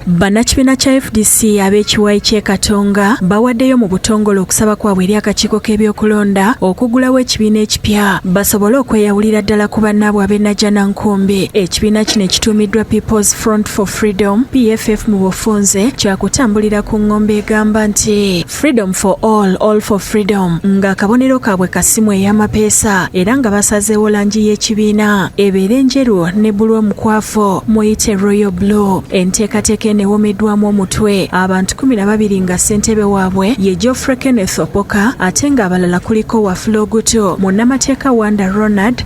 Bannakibiina kya fdc ab'ekiwayi ky'e Katonga bawaddeyo mu butongole okusaba kwabwe eri akakiiko k'ebyokulonda okugulawo ekibiina ekipya basobole okweyawulira ddala ku bannaabwe ab'e Najana Nkumbi. Ekibiina kino ekituumiddwa People's Front for Freedom, PFF mu bufunze, kyakutambulira ku ng'ombe egamba nti Freedom for all, all for freedom nga akabonero kaabwe kasimu ey'amapeesa era nga basazeewo langi y'ekibiina ebeere enjeru ne bulu omukwafu muyite Royal Blue. Enteekateeka eno ewomeddwamu omutwe abantu kumi na babiri nga ssentebe waabwe ye Geoffrey Kenneth Opoka ate ng'abalala kuliko Wafula Ogutu, munnamateeka Wanda Ronald,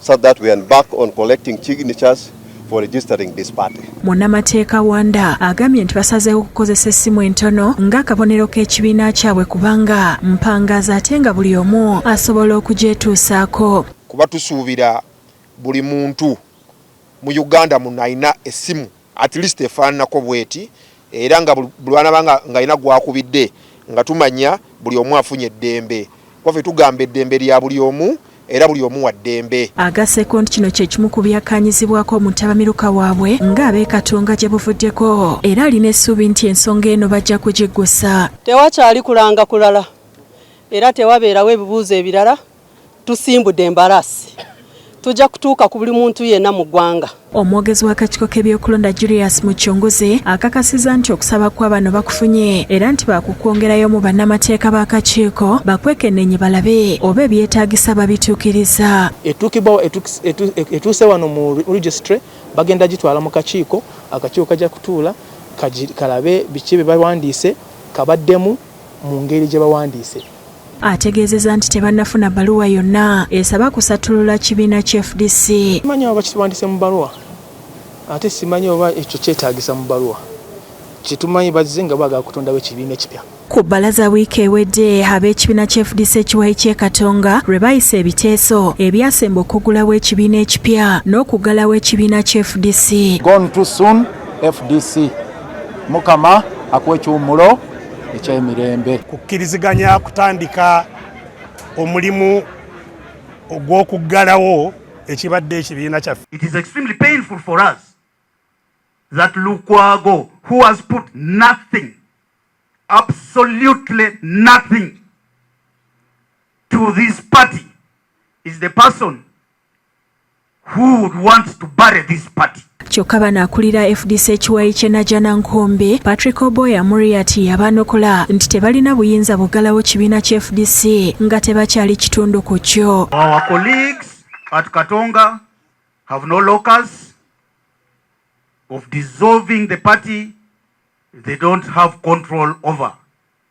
so that we embark on collecting signatures for registering this party. Munnamateeka Wanda agambye nti basazeewo okukozesa essimu entono ng'akabonero k'ekibiina kyabwe kubanga mpangaaza ate nga buli omu asobola okugyetuusaako. Kuba tusuubira buli muntu mu Uganda muno alina essimu at least efaananako bweti era nga bulwanaba nga ngalina gwakubidde nga tumanya buli omu afunye eddembe kuba fe tugamba eddembe lya buli omu era buli omu wa ddembe. Agaseko nti kino kyekimu ku byakkaanyizibwako mu ttabamiruka waabwe nga ab'e Katonga gye buvuddeko era alina essuubi nti ensonga eno bajja kugiggusa. Tewakyali kulanga kulala era tewabeerawo ebibuuzo ebirala tusimbudde embarasi tujja kutuuka ku buli muntu yenna mu ggwanga omwogezi w'akakiiko k'ebyokulonda julius mucunguzi akakasiza nti okusaba kwa bano bakufunye era nti baakukwongerayo mu bannamateeka b'akakiiko bakwekenneenye balabe oba ebyetaagisa babituukiriza etuukibwawo etuuse wano mu registry bagenda gitwala mu kakiiko akakiiko kajja kutuula kalabe biki bye bawandiise kabaddemu mu ngeri gye bawandiise ategeezeza nti tebannafuna baluwa yonna esaba kusattulula kibiina ki fdc manyi oba bakitwandise mu baluwa ate simanyi oba ekyo kyetaagisa mu baluwa kyetumanyi bazze nga baagala kutondawo ekibiina ekipya ku bbalaza wiiki ewedde ab'ekibiina kya fdc ekiwayi ky'e katonga lwe bayisa ebiteeso ebyasemba okuggulawo ekibiina ekipya n'okuggalawo ekibiina kya fdc fdc mukama akuwa ekiwummulo ekyemirembe kukkiriziganya kutandika omulimu ogw'okuggalawo ekibadde ekibiina kyaffe it is extremely painful for us that lukwago who has put nothing absolutely nothing to this party is the person who would want to bury this party. kyokka bano akulira fdc ekiwayi kye najana nkombe patrick oboya muriati yabanukula nti tebalina buyinza bugalawo kibiina kya fdc nga tebakyali kitundu ku kyo of dissolving the party they don't have control over